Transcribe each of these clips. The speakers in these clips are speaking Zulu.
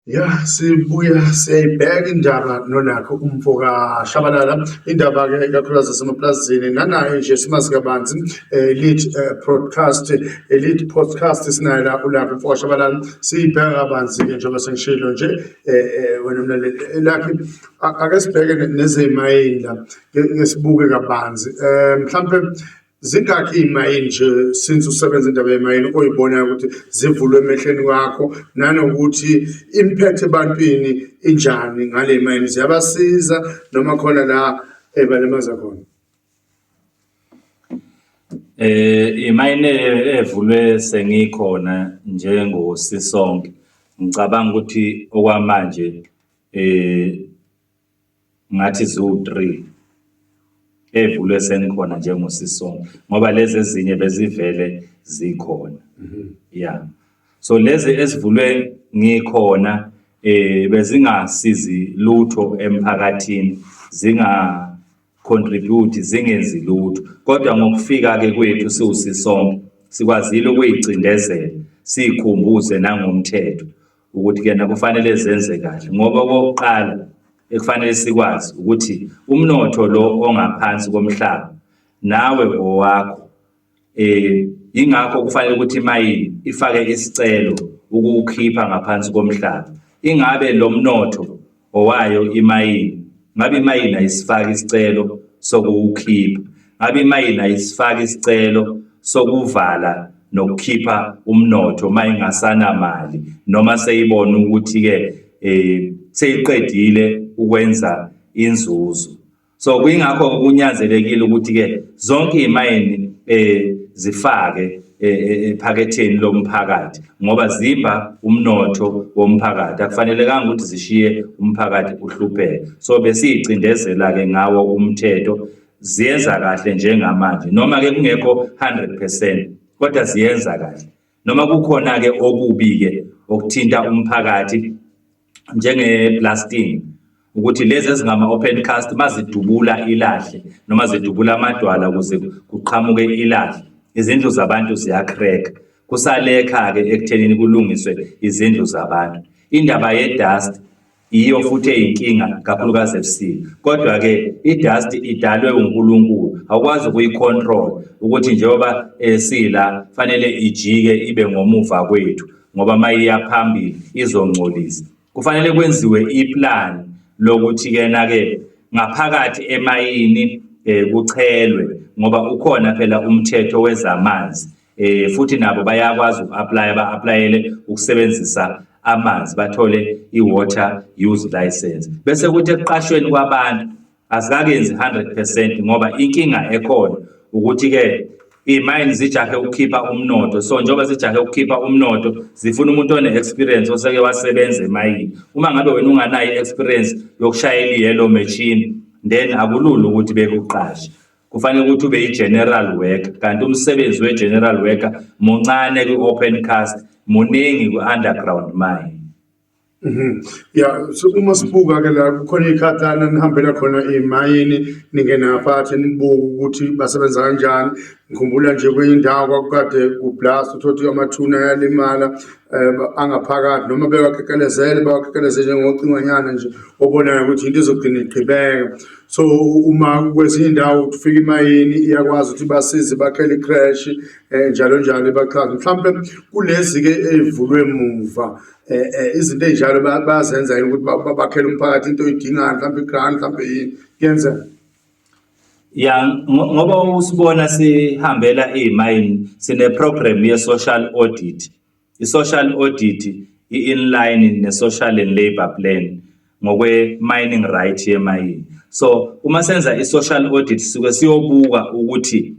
Ya sibuya siyayibheka indaba nonakho umfo kaShabalala indaba-ke ikakhulukazi zasemapulazini nanayo nje simazi kabanzi eh, lead eh, broadcast eh, lead podcast sinayo la ulapho umfo kaShabalala siyibheka kabanzi-ke njengoba sengishilo nje wena mlaleli lakhe ake sibheke nezemayini la ngesibuke kabanzi um mhlawumpe zingakhi iy'mayini nje since usebenza indaba yemayini oyibonayo ukuthi zivulwe emehlweni kwakho nanokuthi imphethe ebantwini injani ngale mayini ziyabasiza noma khona la ebalemaza khona eh imayini evulwe sengikhona njengosisonke ngicabanga ukuthi okwamanje eh ngathi ziwu-three evulwe sengikhona njengosisonke ngoba lezi ezinye bezivele zikhona mhm. ya so lezi ezivulwe ngikhona eh bezingasizi lutho emphakathini zinga contribute zingenzi lutho kodwa ngokufika ke kwethu siwusisonke sikwazile ukuyicindezela sikhumbuze nangomthetho ukuthi kena kufanele zenze kahle ngoba okokuqala ekufanele sikwazi ukuthi umnotho lo ongaphansi komhlaba nawe owakho eh ingakho kufanele ukuthi imayini ifake isicelo ukuwukhipha ngaphansi komhlaba ingabe lo mnotho ngowayo imayini ngabe imayini ayisifaki isicelo sokuwukhipha ngabe imayini ayisifaki isicelo sokuvala nokukhipha umnotho uma ingasanamali noma seyibona ukuthi-ke um seyiqedile ukwenza inzuzo so kuyingakho kunyanzelekile ukuthi-ke zonke iy'mayini um eh, zifake eh, eh, ephaketheni lomphakathi ngoba zimba umnotho womphakathi akufanelekanga ukuthi zishiye umphakathi uhlupheka so besiyicindezela-ke ngawo umthetho ziyenza kahle njengamanje noma-ke kungekho 100 percent kodwa ziyenza kahle noma kukhona-ke okubi-ke okuthinta umphakathi njenge-blasting ukuthi lezi ezingama-open cast mazidubula ilahle noma zidubula amadwala ukuze kuqhamuke ilahle izindlu zabantu ziyacrack kusalekha-ke ekuthenini kulungiswe izindlu zabantu indaba ye-dust yiyo futhi eyinkinga kakhulukazi ebusika kodwa-ke i-dust idalwe unkulunkulu awukwazi ukuyi-control ukuthi njengoba esila eh, fanele ijike ibe ngomuva kwethu ngoba uma iya phambili izongcolisa kufanele kwenziwe iplani lokuthi-kena-ke ngaphakathi emayini um kuchelwe ngoba ukhona phela umthetho wezamanzi eh futhi nabo bayakwazi uku-aplaya ba-aplayele ukusebenzisa amanzi bathole i-water use license bese kuthi ekuqashweni kwabantu asikakenzi 100 percent ngoba inkinga ekhona ukuthi-ke iy'mayini zijahe ukukhipha umnotho so njengoba zijahe ukukhipha umnotho zifuna umuntu one-experience oseke wasebenza emayini uma ngabe wena unganayo i-experience yokushayela i-yellow machine then akulula ukuthi bekuqashe kufanele ukuthi ube i-general worker kanti umsebenzi we-general worker muncane kwi-open cast muningi kwi-underground mine Mhm. Ya so uma sibuka ke la kukhona ikhathana nihambela khona emayini ningena phathi nibuka ukuthi basebenza kanjani ngikhumbula nje kwenye indawo kwakukade kublast uthothi amathuna yalimala eh, angaphakathi noma bewakekelezele bawakekeleze njengocingwanyana nje obonayo ukuthi into izogcina igqibeka so uma kwezinye indawo kufika imayini iyakwazi ukuthi basize bakhele i-crash um eh, njalo njalo ibachaze mhlawumpe kulezi-ke ey'vulwe muva um eh, eh, izinto ey'njalo bayazenza yini ukuthi bakhele umphakathi into oyidingayo mhlawumpe i-grant mhlawumpe yini kuyenzeka ya ngoba usibona sihambela iy'mayini sine-program ye-social audit I-Social Audit, i-Inline ne-Social and Labour Plan ngokwe-mining right yemayini. So uma senza i-Social Audit sisuke siyobuka ukuthi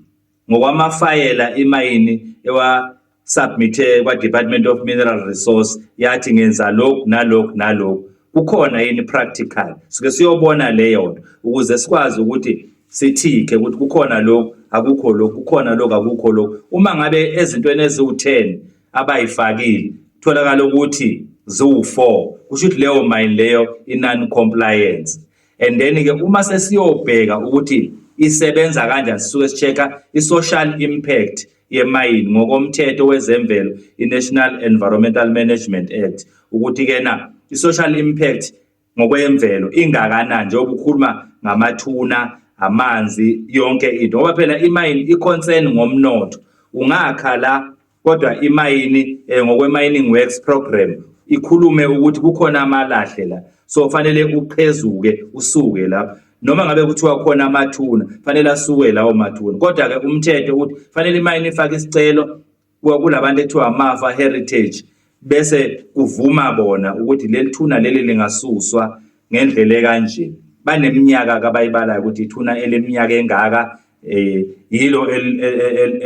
ngokwamafayela imayini ewa submithe kwa-Department of Mineral Resource yathi ngenza lokhu nalokhu nalokhu kukhona yini practical suke siyobona leyo nto ukuze sikwazi ukuthi sithike ukuthi kukhona lokhu akukho lokhu kukhona lokhu akukho lokhu uma ngabe ezintweni eziwu-10 abayifakile kutholakala ukuthi ziwu-4 kusho ukuthi leyo mayini leyo i-non-compliance and then-ke uma sesiyobheka ukuthi isebenza kanjani sisuke si-check-a i-social impact yemayini ngokomthetho wezemvelo i-national environmental management act ukuthi-ke na i-social impact ngokwemvelo ingakanani njengoba ukhuluma ngamathuna amanzi yonke into ngoba phela imayini i-concern ngomnotho ungakha la kodwa imayini eh, ngokwe-mining works program ikhulume ukuthi kukhona amalahle la so fanele uqhezuke usuke lapho noma ngabe kuthiwa khona amathuna fanele asuke lawo mathuna kodwa-ke umthetho ukuthi fanele imayini ifake isicelo kulabantu ekuthiwa amafa heritage bese kuvuma bona ukuthi leli thuna leli lingasuswa ngendlela ekanje baneminyaka kabayibalayo ukuthi ithuna eleminyaka engaka eh yilo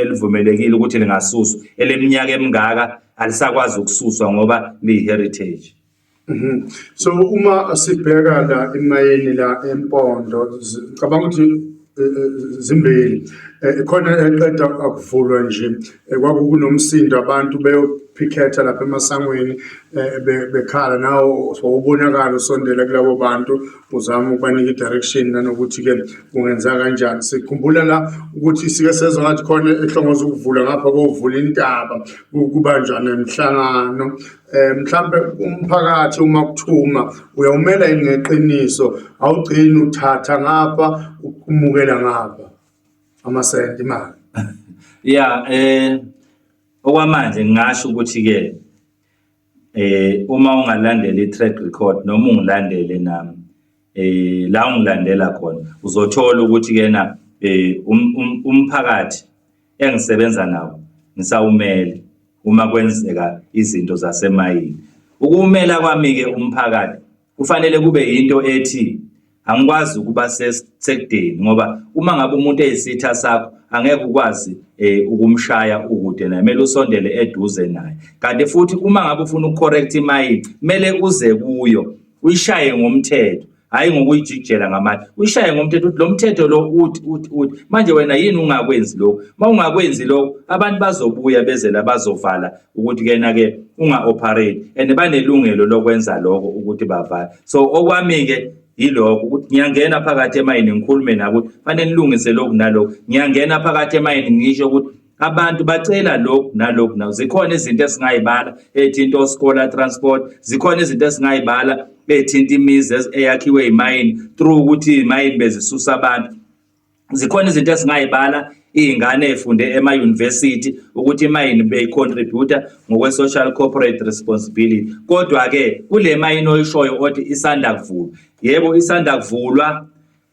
elivumelekile ukuthi lingasuswa eleminyaka emingaka alisakwazi ukususwa ngoba liyi heritage Mhm. So uma sibheka la imayini la empondo ngicabanga ukuthi eh, eh, zimbili eh, khona eqeda akuvulwa nje kwakukunomsindo abantu beyophikhetha lapha emasangweni bekhala nawo wawubonakala usondela kulabo bantu uzama ukubanika i-direction nanokuthi-ke kungenza kanjani sikhumbula la ukuthi sike sezwa ngathi khona ehlongoza ukuvula ngapha kovula intaba kubanjwa nemihlangano um mhlawumbe umphakathi uma kuthuma uyawumela yini ngeqiniso awugcini uthatha ngapha umukela ngapha amasenti imali ya um okwamanje ngingasho ukuthi-ke um uma ungalandela i-track record noma ungilandele nami eh la ungilandela khona uzothola ukuthi kena eh um, um, umphakathi engisebenza nawo ngisawumele uma kwenzeka izinto zasemayini ukumela kwami ke umphakathi kufanele kube into ethi angikwazi ukuba sekudeni ngoba uma ngabe umuntu eyisitha sakho angeke ukwazi eh, ukumshaya ukude naye kumele usondele eduze naye kanti futhi uma ngabe ufuna ukucorrect imayini kumele uze kuyo uyishaye ngomthetho hayi ngokuyijikijela ngamandla uyishaye ngomthetho ukuthi lo mthetho lo uthi uthi uthi manje wena yini ungakwenzi lokhu uma ungakwenzi lokhu abantu bazobuya bezela bazovala ukuthi kena-ke unga-operate and banelungelo lokwenza lokho ukuthi bavala so okwami-ke yilokho ukuthi ngiyangena phakathi emayini ngikhulume nabo ukuthi fanele nilungise lokhu nalokhu ngiyangena phakathi emayini ngisho ukuthi abantu bacela lokhu nalokhu nawo zikhona izinto esingayibala ethinta osikola transport zikhona izinto esingayibala ethinta imizi eyakhiwe imayini through ukuthi imayini bezisusa abantu zikhona izinto esingayibala iy'ngane ey'funde emayunivesithi ukuthi imayini beyicontributa ngokwe-social corporate responsibility kodwa-ke kule mayini oyishoyo othi isanda kuvulwa yebo isanda kuvulwa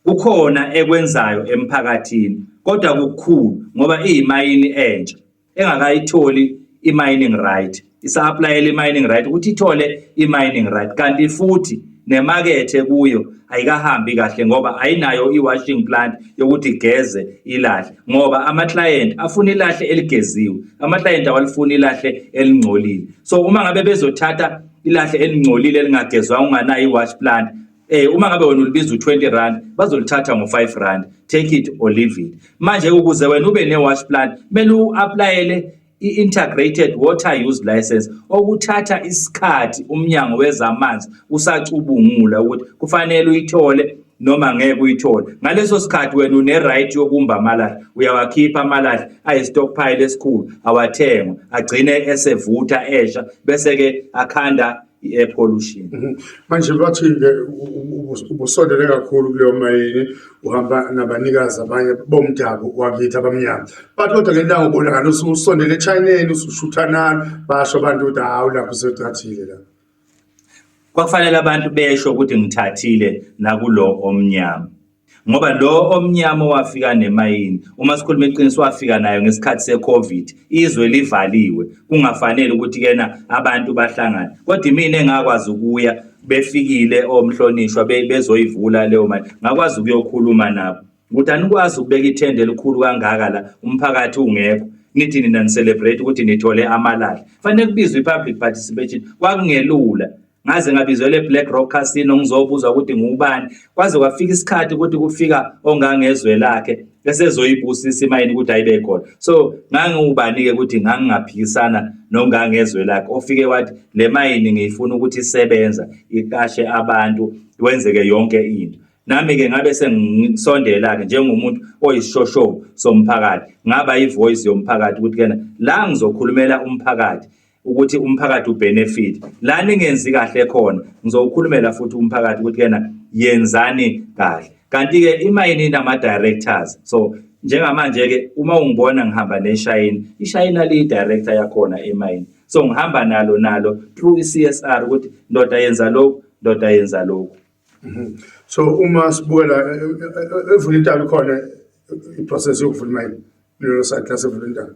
Kukhona ekwenzayo emphakathini kodwa kukhulu ngoba iyimayini entsha engakayitholi i-mining right isa-aplayela i-mining right ukuthi ithole i-mining right kanti futhi nemakethe kuyo ayikahambi kahle ngoba ayinayo i-washing plant yokuthi igeze ilahle ngoba ama-client afuna ilahle eligeziwe ama-client awalifuni ilahle elingcolile so uma ngabe bezothatha ilahle elingcolile elingagezwanga unganayo i-wash plant Eh uma ngabe wena ulibiza u20 rand bazolithatha ngo5 rand take it or leave it. Manje ukuze wena ube newash plant kumele uapplyele i-integrated water use license okuthatha isikhathi umnyango wezamanzi usacubungula ukuthi kufanele uyithole noma ngeke uyithole ngaleso sikhathi wena une-right yokumba amalahle uyawakhipha amalahle ayi-stockpile esikhulu awathengwa agcine esevutha esha bese-ke akhanda i-air pollution mhm. manje bathi-ke ubusondele kakhulu kuleyo mayini uhamba nabanikazi abanye bomdabu wakithi abamnyama bathi kodwa ngendawo ubona ngalo usondele echineni usushuthanani basho abantu ukuthi hawu lapho usethathile la kwakufanele abantu besho ukuthi ngithathile nakulo omnyama ngoba lo omnyama owafika nemayini uma sikhuluma iqiniso wafika nayo ngesikhathi se-covid izwe livaliwe kungafanele ukuthi kena abantu bahlangane kodwa imina engakwazi ukuya befikile omhlonishwa bezoyivula leyo mali ngakwazi ukuyokhuluma nabo ukuthi anikwazi ukubeka ithende elikhulu kangaka la umphakathi ungekho nithi nina nicelebrate ukuthi nithole amalahla fanele kubizwe i-public participation kwakungelula ngaze ngabizelwe eBlack Rock Casino ngizobuza ukuthi ngubani kwaze kwafika isikhathi ukuthi kufika ongangezwe lakhe esezoyibusisa imayini ukuthi ayibe khona so ngangiwubani-ke ukuthi ngangingaphikisana nongangezwe lakhe ofike wathi le mayini ngiyifuna ukuthi isebenza iqashe abantu wenzeke yonke into nami-ke ngabe sengisondela-ke njengomuntu oyisishoshovu somphakathi ngaba ivoyisi yomphakathi ukuthi kena la ngizokhulumela umphakathi ukuthi umphakathi ubenefit la ningenzi kahle khona ngizowukhulumela futhi umphakathi ukuthi yena yenzani kahle kanti ke imayini inama directors so njengamanje ke uma ungibona ngihamba neshayini ishayina liyi director yakhona emayini so ngihamba nalo nalo through iCSR ukuthi ndoda yenza lokhu ndoda yenza lokhu mhm. so uma sibukela eh, eh, eh, evulintalo khona iprocess yokuvula imayini lelo side lasevulintalo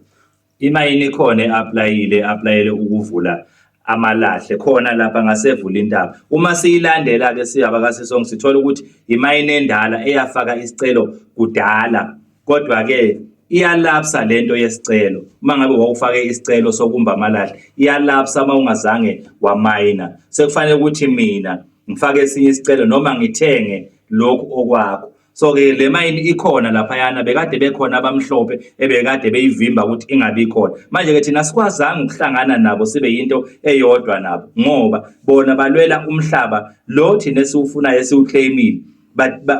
Imayini ikhona e-aplayile e-aplayele ukuvula amalahle khona lapha ngasevula intaba uma siyilandela-ke siyabakasisonke sithola ukuthi imayini endala eyafaka isicelo kudala kodwa-ke iyalapsa le nto yesicelo uma ngabe wawufake isicelo sokumba amalahle iyalapsa uma ungazange wamayina sekufanele ukuthi mina ngifake esinye isicelo noma ngithenge lokhu okwakho so ke le mayini ikhona laphayana bekade bekhona abamhlophe ebekade beyivimba ukuthi ingabi khona manje ke thina sikwazanga ukuhlangana nabo sibe yinto eyodwa nabo ngoba bona balwela umhlaba lo thina esiwufunayo esiwuclaimile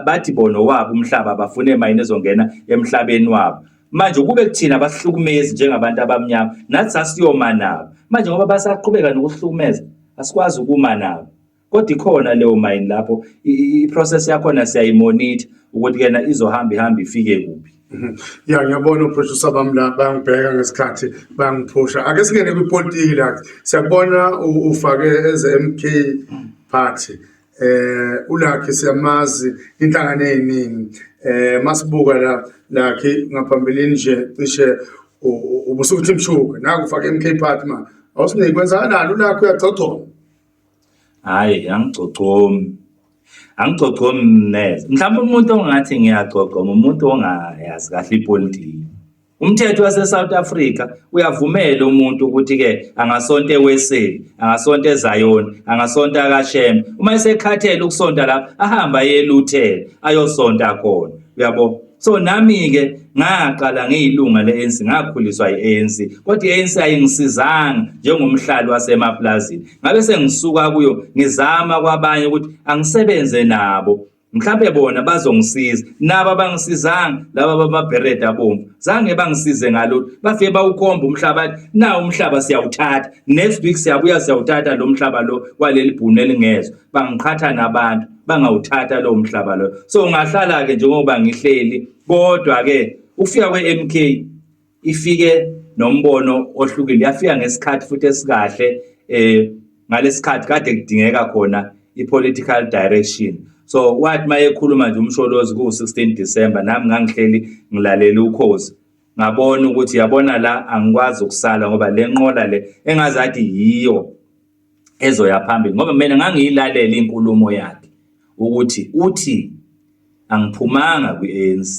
bathi bona wabo umhlaba bafune mayini ezongena emhlabeni wabo manje ukube kuthina abasihlukumezi njengabantu abamnyama nathi sasiyoma nabo manje ngoba basaqhubeka nokuhlukumeza asikwazi ukuma nabo Kodwa ikhona leyo mayini lapho i-process yakhona siyayimonitha ukuthi kena izohamba ihamba ifike kuphi. Mhm. Ya ngiyabona uphroducer bami la bayangibheka ngesikhathi bayangiphusha. Ake singene kwipolitiki la. Siyakubona ufake eze MK party. Eh uLakhi siyamazi inhlangano eziningi. Eh masibuka la Lakhi ngaphambilini nje cishe ubusukuthi mshuka. Naku ufake MK party ma. Awusinike kwenzakalani uLakhi uyagcogcoma. hhayi angigcogcomi angigcogcomi neze mhlawumbe umuntu ongathi ngiyagcogcoma umuntu ongayazi kahle ipolitiki umthetho wase-south africa uyavumela umuntu ukuthi-ke angasonta eweseli angasonta ezayoni angasonta akashembe uma esekhathele ukusonta lapho ahambe ayeluthela ayosonta khona uyabo so nami-ke ngaqala ngiyilunga le-anc ngakhuliswa i-anc kodwa i-anc ayingisizanga njengomhlali wasemapulazini ngabe sengisuka kuyo ngizama kwabanye ukuthi angisebenze nabo mhlawumbe bona bazongisiza nabo abangisizanga laba bamabherede abomvu zange bangisize ngalolu bafike bawukhomba umhlaba nawo umhlaba siyawuthatha next week siyabuya siyawuthatha lo mhlaba lo waleli bhunu elingezwa bangiqhatha nabantu bangawuthatha lowo mhlaba loyo so ngahlala-ke njengoba ngihleli kodwa-ke ukufika kwe-mk ifike nombono ohlukile yafika ngesikhathi futhi esikahle um ngalesikhathi kade kudingeka khona i-political direction so wathi uma ekhuluma nje umsholozi kuwu-16 december nami ngangihleli ngilalele ukhozi ngabona ukuthi yabona la angikwazi ukusala ngoba le nqola le engazathi yiyo ezoya phambili ngoba mina ngangiyilalela inkulumo yakhe ukuthi uthi angiphumanga kwi-ANC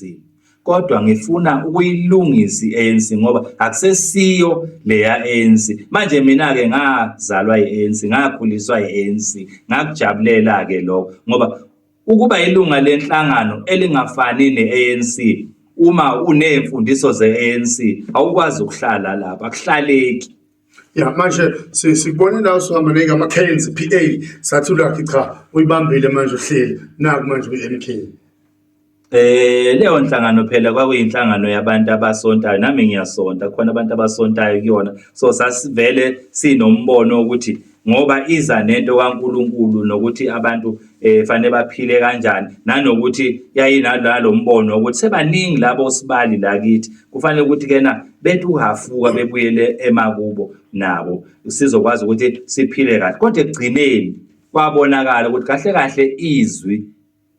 kodwa ngifuna ukuyilungisa i-ANC ngoba akusesiyo leya ANC manje mina ke ngazalwa i-ANC ngakhuliswa i-ANC ngakujabulela ke lokho ngoba ukuba ilunga lenhlangano elingafani ne-ANC uma unemfundiso ze-ANC awukwazi ukuhlala lapha akuhlaleki ya manje sikubone la usihamba neke ama-cans p a sathi ulakhi cha uyibambile manje uhleli naku manje kwi-m k Eh leyo nhlangano phela kwakuyinhlangano yabantu abasontayo nami ngiyasonta khona abantu abasontayo kuyona so sasivele sinombono ukuthi ngoba iza nento kaNkulunkulu nokuthi abantu eh fanele baphile kanjani nanokuthi yayinalo mbono ukuthi sebaningi labo sibali la kithi kufanele ukuthi kena bethi uhafuka bebuyele emakubo nabo sizokwazi ukuthi siphile kahle kodwa ekugcineni kwabonakala ukuthi kahle kahle izwi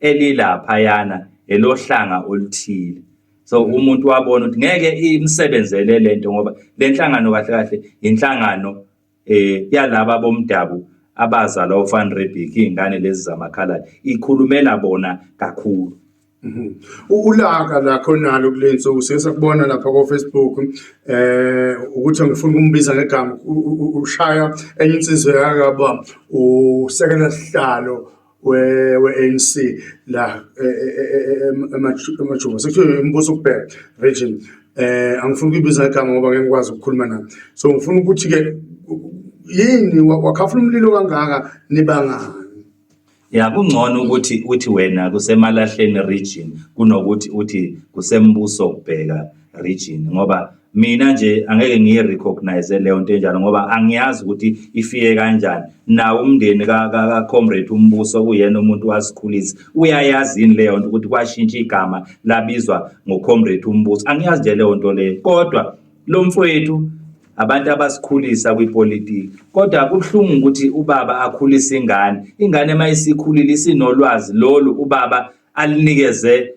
elilapha yana elohlanga oluthile so umuntu wabona ukuthi ngeke imsebenzele lento ngoba lenhlangano kahle kahle inhlangano eh yalaba bomdabu abazalwa uFan Rebic ingane lezi zamakhaladi ikhulumela bona kakhulu mhm. ulaka lakho nalo kulensuku sesakubona lapha ko Facebook eh ukuthi ngifuna ukumbiza ngegama ushaya enye insizwe yakaba usekela sihlalo we-ANC la e, e, e, emajuba sekuthiwa umbuso ukubheka region eh angifuni ukuyibiza igama ngoba ngeke ngikwazi ukukhuluma nayo so ngifuna ukuthi ke yini wakhafula umlilo kangaka nibangani ya kungcono ukuthi uthi wena kusemalahleni region kunokuthi uthi kusembuso kubheka region ngoba mina nje angeke ngiyi recognize leyo nto enjalo ngoba angiyazi ukuthi ifike kanjani nawo umndeni ka ka, ka comrade umbuso kuyena umuntu wasikhulisa uyayazi yini leyo nto ukuthi kwashintsha igama labizwa ngo comrade umbuso angiyazi nje leyo nto leyo kodwa lo mfowethu abantu abasikhulisa kwipolitiki kodwa kubuhlungu ukuthi ubaba akhulise ingane ingane uma isikhulile isinolwazi lolu ubaba alinikeze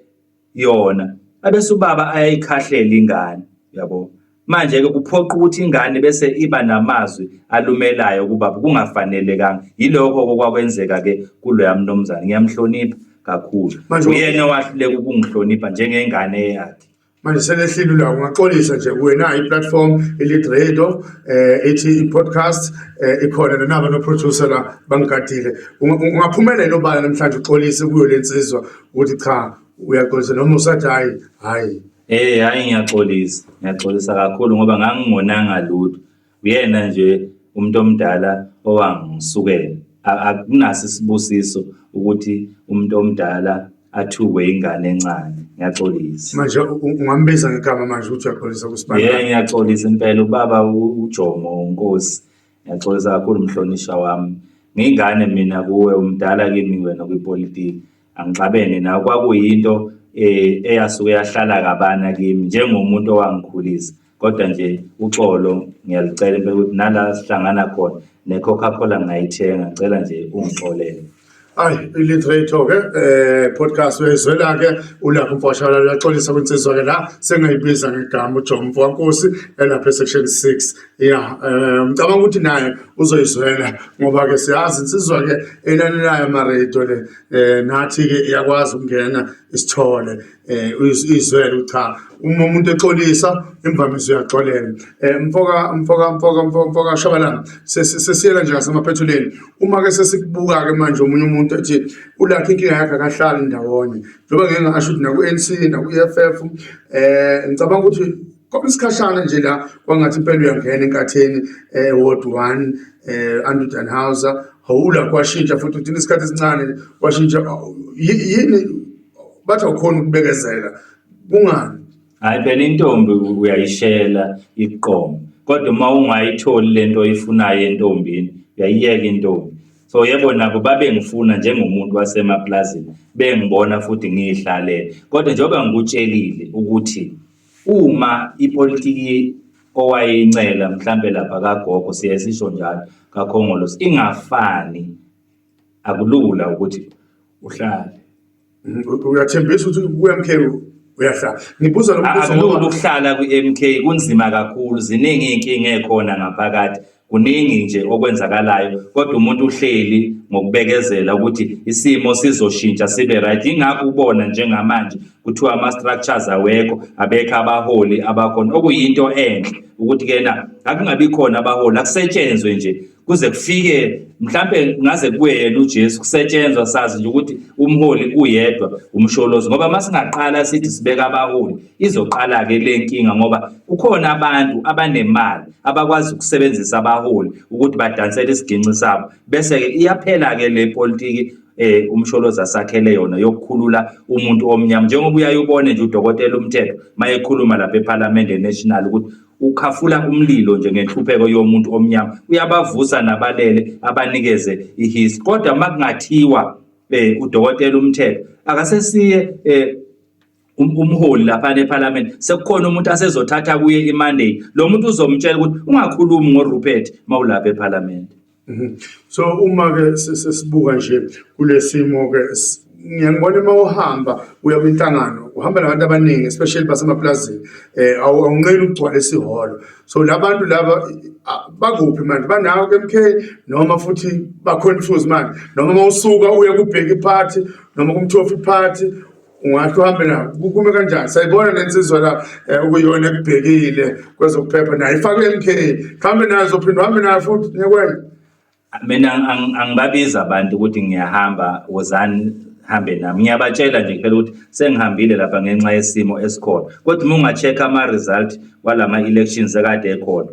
yona abese ubaba ayayikhahlele ingane yabo manje-ke kuphoqa ukuthi ingane bese iba namazwi alumelayo kubaba kungafanelekanga yilokho-ke okwakwenzeka-ke kuloya mnumzane ngiyamhlonipha kakhulu uyena owahluleka ukungihlonipha njengengane yakhe manje selehlile ulawo ungaxolisa nje wena i-platform elid radio um eh, ethi i-podcast um ikhona nanaba noproducer la bangigadile ungaphumelela obala namhlanje uxolise kuyo le nsizwa uthi cha uyaxolisa noma usathi hayi hayi Eh hayi ngiyaxolisa ngiyaxolisa kakhulu ngoba ngangingonanga lutho uyena nje umuntu omdala owangisukela akunaso isibusiso ukuthi umuntu omdala athukwe ingane encane ngiyaxolisa manje ungambiza ngegama manje ukuthi uyaxolisa kusibani yeah ngiyaxolisa impela ubaba uJomo uNkosi Ngiyaxolisa kakhulu mhlonishwa wami. Ngingane mina kuwe umdala kimi wena kwipolitiki. Angixabene nawe kwakuyinto eh eyasuke yahlala kabana kimi njengomuntu owangikhulisa. Kodwa nje uxolo ngiyalicela impela ukuthi nala sihlangana khona ne-Coca-Cola ngingayithenga ngicela nje ungixolele. Ayi iliterature ke eh podcast wezwela ke ulapho mfashana uyaxolisa kwinsizwa ke la sengayibiza ngegama uJomo mfwankosi elapha section 6 yeah eh, ngicabanga ukuthi naye uzoyizwela ngoba ke siyazi insizwa ke enanelayo ama radio le eh nathi ke iyakwazi ukungena isithole eh izwele ucha uma umuntu exolisa imvamisa uyaxolela eh mfoka mfoka mfoka mfoka shabalana sesiyela nje ngasemaphethuleni uma ke sesikubuka ke manje umunye umuntu ethi ulakhe inkinga yakhe akahlali ndawonye njengoba ngeke ngasho ukuthi naku NC naku EFF eh ngicabanga ukuthi kodwa isikhashana nje la kwangathi impela uyangena enkatheni eh ward 1 eh Andrew Danhauser hawula kwashintsha futhi uthini isikhathi esincane kwashintsha yini bathi awukhona ukubekezela kungani hayi phela intombi uyayishela iqomo kodwa uma ungayitholi le nto oyifunayo entombini uyayiyeka intombi so yebo nabo babengifuna njengomuntu wasemaplazini bengibona futhi ngiyihlalele kodwa njengoba ngikutshelile ukuthi uma ipolitiki owayeyincela mhlampe lapha kagogo siye sisho njalo kakhongolose ingafani akulula ukuthi uhlale uyathembisa ukuthi ku-MK uyahlala ngibuza lo mbuzo akulula ukuhlala kwi-MK kunzima kakhulu ziningi iy'nkinga ekhona ngaphakathi kuningi nje okwenzakalayo kodwa umuntu uhleli ngokubekezela ukuthi isimo sizoshintsha sibe right ingakho ubona njengamanje kuthiwa ama-structures awekho abekho abaholi abakhona okuyinto enhle ukuthi kena akungabi khona abaholi akusetshenzwe nje kuze kufike mhlambe ngaze kuye yena uJesu kusetshenzwa sazi nje ukuthi umholi uyedwa umsholozi ngoba masingaqala sithi sibeka abaholi izoqala ke le nkinga ngoba kukhona abantu abanemali abakwazi ukusebenzisa abaholi ukuthi badansele isiginci sabo bese ke iyaphela ke le politiki eh umsholozi asakhele yona yokukhulula umuntu omnyama njengoba uyayubone nje udokotela umthetho mayekhuluma lapha eParliament National ukuthi ukhafula umlilo nje ngenhlupheko yomuntu omnyama uyabavusa nabalele abanikeze ihis kodwa makungathiwa eh udokotela umthetho akasesiye eh um-, umholi lapha neParliament sekukhona umuntu asezothatha kuye iMonday lo muntu uzomtshela ukuthi ungakhulumi ngoRupert mawulapha eParliament Mhm. So uma ke sesibuka nje kulesimo ke ngiyangibona uma uhamba uya kwinhlangano uhamba nabantu abaningi especially basemaplazini eh awunqeni ukugcwala isiholo so labantu laba bakuphi manje banawo ke MK noma futhi ba confuse manje noma mawusuka uya kubheki party noma kumthofi party ungahle uhambe nayo kukume kanjani sayibona le nsizwa la um ukuyona ekubhekile kwezokuphepha nayo ifakwe i-m k hambe nayo zophinde uhambe nayo futhi nyekwena mina angibabizi abantu ukuthi ngiyahamba wozani hambe nami ngiyabatshela nje kuphela ukuthi sengihambile lapha ngenxa yesimo esikhona kodwa uma unga-check-a ama-result wala ma-elections ekade ekhona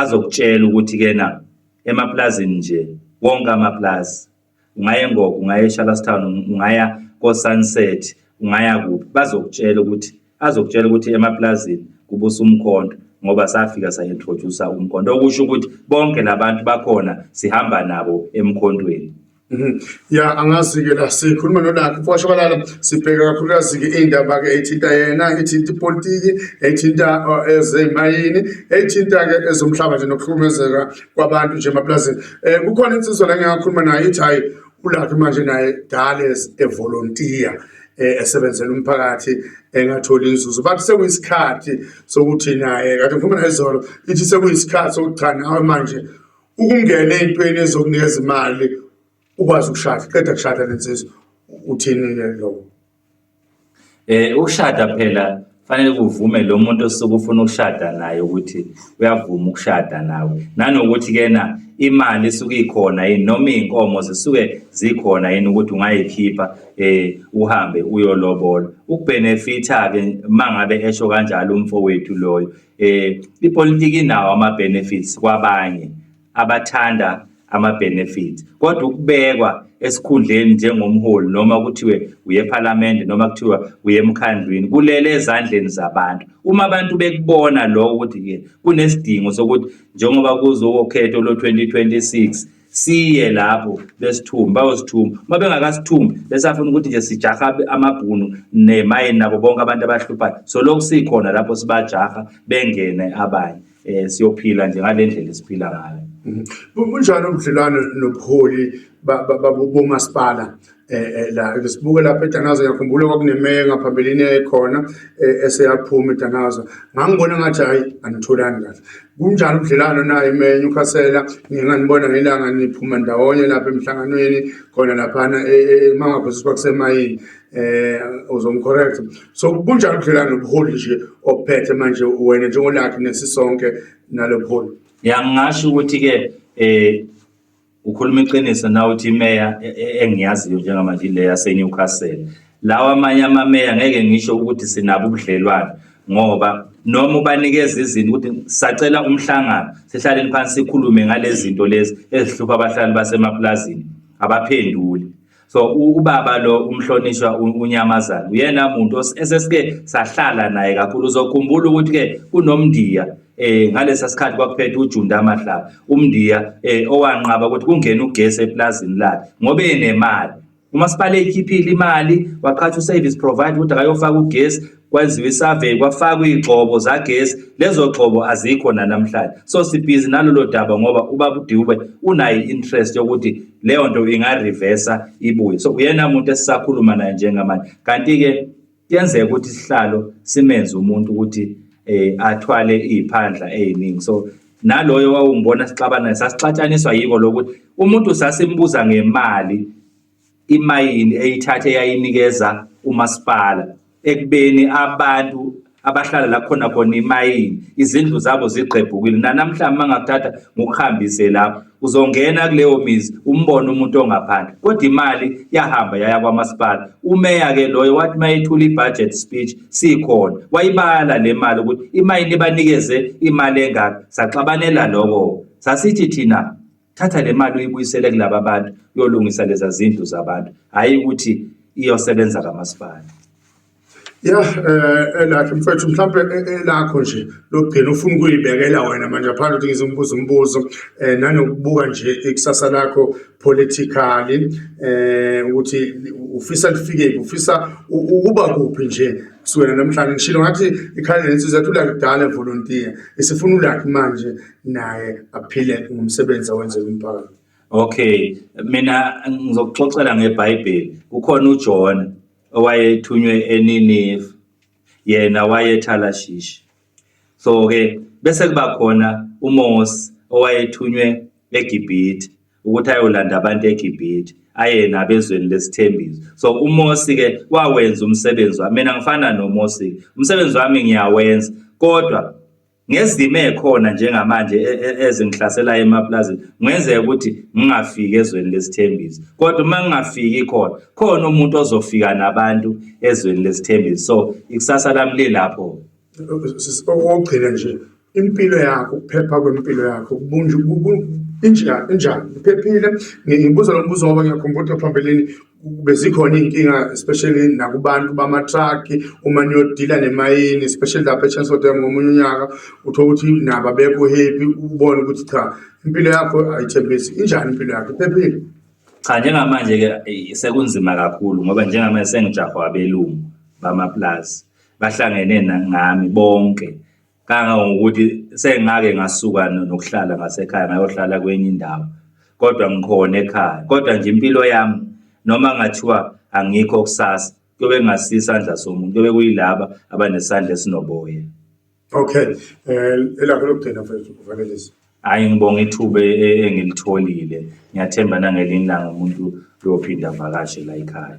azokutshela ukuthi-ke na emapulazini nje wonke amapulazi ungaya engogo ungaya eshalastown ungaya kosunset ungaya kuphi bazokutshela ukuthi azokutshela ukuthi emaplazini kubusa umkhonto ngoba safika sa-introduce-a umkhonto okusho ukuthi bonke labantu bakhona sihamba nabo emkhontweni Mhm. ya angazi-ke la sikhuluma nolakhe kwashabalala sibheke kakhulukazi-ke iy'ndaba-ke ey'thinta yena ethinta ipolitiki ethinta uh, ezemayini ethinta-ke ezomhlaba nje nokuhlukumezeka kwabantu nje emaplazini um kukhona insizwa la ngingakhuluma nayo ithi hhayi ulaphi manje naye dale evolontiya eh, esebenzela umphakathi engatholi inzuzo bathi sekuyisikhathi sokuthi naye kade ngikhuluma naye izolo ithi sekuyisikhathi sokuthi cha nawe manje ukungena ey'ntweni ezokunikeza imali ukwazi ukushada qeda kushada lensizwa uthini-ke lokho Eh ukushada phela kufanele kuvume lo muntu osuke ufuna ukushada naye ukuthi uyavuma ukushada nawe nanokuthi kena imali isuke ikhona yini noma iy'nkomo zisuke zikhona yini ukuthi ungayikhipha eh uhambe uyolobola ukubhenefitha-ke uma ngabe esho kanjalo umfowethu loyo eh ipolitiki inawo ama-benefits kwabanye. abathanda ama-benefits kodwa ukubekwa esikhundleni njengomholi noma kuthiwe uye ephalamende noma kuthiwa uye emkhandlwini kulele ezandleni zabantu uma abantu bekubona lokho ukuthi-ke kunesidingo sokuthi njengoba kuzowokhetho lo-2026 siye lapho besithumbi bayosithumba uma bengakasithumbi besafuna ukuthi nje sijaha amabhunu nemayini nabo bonke abantu abahluphayo so lokhu sikhona lapho sibajaha bengene abanye eh siyophila nje ngalendlela esiphila ngayo mhm. bunjani ubudlelwano nobuholi bomasipala eh, eh la ngisibuke lapha eDanazo ngiyakhumbula kwakunemeya ngaphambilini ekhona eh, eseyaphuma eDanazo ngangibona ngathi hayi anitholani kahle kunjani ubudlelwano naye imeya ukhasela nginganibona ngelanga niphuma ndawonye lapha emhlanganweni khona lapha e, e, e, emangaphosi kwakusemayini eh uzongicorrect so kunjalo ubudlelwano nobuholi nje ophethe manje wena njengolakhe nesisonke nalobuholi yangasho ukuthi ke eh ukhuluma iqiniso na uthi imeya e, e, engiyaziyo njengamanje le yaseNewcastle lawa amanye amameya ngeke ngisho ukuthi sinabo ubudlelwane ngoba noma ubanikeza izinto ukuthi sacela umhlangano sihlaleni phansi sikhulume ngalezinto lezi ezihlupha abahlali basemapulazini abaphenduli so ubaba lo umhlonishwa unyamazana uyena muntu esesike sahlala naye kakhulu uzokhumbula ukuthi ke kunomndiya eh ngalesa sikhathi kwakuphethe uJunda amahlaba umndiya eh owanqaba ukuthi kungena ugesi eplazini lakhe ngobe enemali umasipala eyikhiphile imali waqhatha uservice provider ukuthi akayofaka ugesi kwenziwa isurvey kwafakwa igxobo zagesi lezo gxobo azikho nanamhlanje so sibhizi nalolo daba ngoba ubaba uDube unayo interest yokuthi leyo nto ingareversa ibuye so uyena umuntu esisakhuluma naye njengamanje kanti ke kuyenzeka ukuthi isihlalo simenze umuntu ukuthi eh athwale iziphandla eziningi so naloyo wawungibona sixabana sasixatshaniswa yiko lokuthi umuntu sasimbuza ngemali imayini eyithathe yayinikeza umasipala ekubeni abantu abahlala la khona khona imayini izindlu zabo zigqebhukile nanamhlanje mangakuthatha ngokuhambise lapho uzongena kuleyo mizi umbone umuntu ongaphandle kodwa imali yahamba yaya kwamasipala umeya ke loyo wathi mayethula i-budget speech sikhona wayibala le mali ukuthi imayini ibanikeze imali engaka saxabanela lokho sasithi thina thatha le mali uyibuyisele kulaba bantu uyolungisa leza zindlu zabantu hhayi ukuthi iyosebenza kamasipala ya eh, elakhe mfethu mhlawumbe eh, eh, elakho nje lokugcina ufuna ukuyibekela wena manje ngaphandle ukuthi ngize umbuzo umbuzo um nanokubuka nje ikusasa lakho politically um ukuthi ufisa lifikephi ufisa ukuba kuphi nje kusukela namhlanje ngishilo ngathi ikhale lensizwa yathi ulakudala evolontiya isifuna ulakhi manje naye aphile ngomsebenzi awenzela umphakathi okay mina ngizokuxoxela ngebhayibheli kukhona ujona owayethunywe eninive yena wayethalashishi so-ke bese kuba khona umose owayethunywe egibhithe ukuthi ayolanda abantu egibhithe aye nabezweni lesithembiso so umosi-ke wawenza umsebenzi wami mina ngifana nomosi-ke umsebenzi wami ngiyawenza kodwa ngezimo ekhona njengamanje e, e, ezingihlaselayo emapulazini ngenzeka ukuthi ngingafiki ezweni lesithembiso kodwa uma ngingafiki khona khona umuntu ozofika nabantu ezweni lesithembiso so ikusasa lami lilapho okugcina nje impilo yakho ukuphepha kwempilo yakho injani iphephile ngibuza lo mbuzo ngoba ngiyakhumbula phambilini bezikhona iy'nkinga especially nakubantu bamatraki uma niyodila nemayini especially lapha echancellor dam ngomunye unyaka uthola ukuthi nabo abekho happy ubone ukuthi cha impilo yakho ayithembisi injani impilo yakho iphephile cha njengamanje-ke sekunzima kakhulu ngoba njengamanje sengijahwa abelungu bamaplazi bahlangene nami bonke kangangokuthi sengake ngasuka nokuhlala ngasekhaya ngayohlala kwenye indawo kodwa ngikhona ekhaya kodwa nje impilo yami noma ngathiwa angikho kusasa kuyobe kungasisandla somuntu kuyobe kuyilaba abanesandla esinoboya okay um elakho lokugcina mfethu uvalelisa hhayi ngibonga ithuba e, e, engilitholile ngiyathemba nangelinye ilanga umuntu uyophinda avakashe la yikhaya